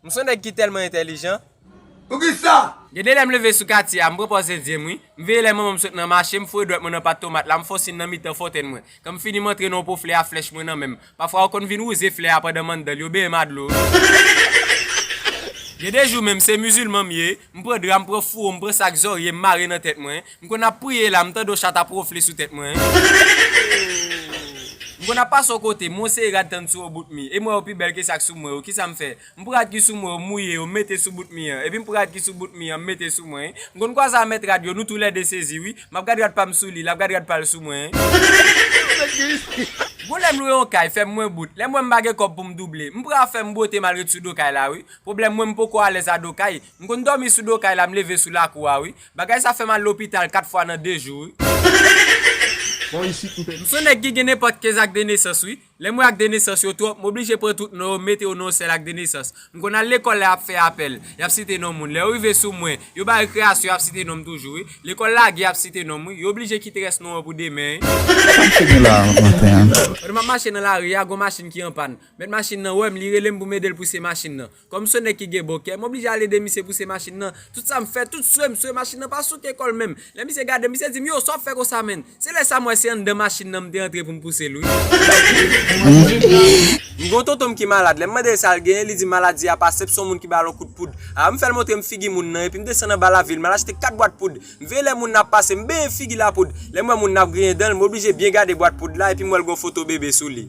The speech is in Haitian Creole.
M son nèg ki tèlman entèlijan. Poukisa? Gen de lè m leve sou katye a, m pran pòz endyen m wi. M veye lè manman m sot nan mache, m foure dwèt mwen nan pat tomat la, m fonsin nan mitan fontèn mwen. Kan m fini m antre nan yon po flè a flèch mwen nan men m. Pafwa yo konn vin wouze flè a pandan m anndan l, yo beye m a dlo wi. Gen de jou menm se mizilman m ye, M pran dra, m pran fouwo, m pran sak zorye, m mare nan tèt mwen. M konn ap priye la, m tande yon chat ap wonfle sou tèt mwen. Ooh! M konn ap pase yon kote, m wonse rad tann sou yon bout mi, e m wè yo pi bèl ke sak sou mwen yo. Kisa m fè? M pran rad ki sou mwen yo, m mouye yo, m mete sou bout mi an. Epi m pran rad ki sou bout mi an, m mete sou mwen. M konn kwaze a mèt rad yo, nou tou lè de sezi wi. M ap gad rad pa m sou li, l ap gad rad pa l sou mwen. Gon lè m lwe yon kay, fè m mwen bout. Lè m wè m pa gen kòb pou m double, m pran afè m bwote m al ret sou do kay la wi. Pwoblèm mwen m poko alèz a do kay, m konn dòmi sou do kay la m leve sou lakou a wi. Bagay sa fèm al lopital 4 fwa nan 2 jou wi. M son nèg ki gen nenpòt 15 ak de nesans wi. Lè m wè ak de nesans yo twòp, m oblije pran tout non yo m mete yo nan yon sèl ak de nesans. M konn al lekòl lè yap fè apèl, yap site non moun. Lè yo rive sou mwen, yo ba rekreyasyon yap site non m toujou wi. Lekòl lage yap site non m wi. Yo oblije kite rès non an pou demen wi. Sa m fè nou la a maten an? Pandan m ap mache nan lari a, gon machin ki anpàn. Mèt machin nan wè m, li rele m pou m ede l pouse machin nan. Kòm se yon nèg ki gen bon kè, m oblije al ede misye pouse machin nan. Tout sa m fè, tout swe m swe, machin nan pa souke kò l menm. Lè misye gade m, misye di m, Yo, sa w ap fè konsa menn? Se lè sa m wè se anndan machin nan m te antre pou m pouse l wi. M gen yon tonton m ki malad. Lè m mande l sa l genyen, li di m maladi a pa senp, se yon moun ki ba l yon kout poud. A, m fè l montre m figi moun nan, epi m desann anba lavil, m al achte kat bwat poud. M veye lè moun ap pase, m benyen figi l a poud. Lè m wè moun ap griyen dan l, m oblije byen gade bwat poud la epi m wè l gen yon foto bebe sou li.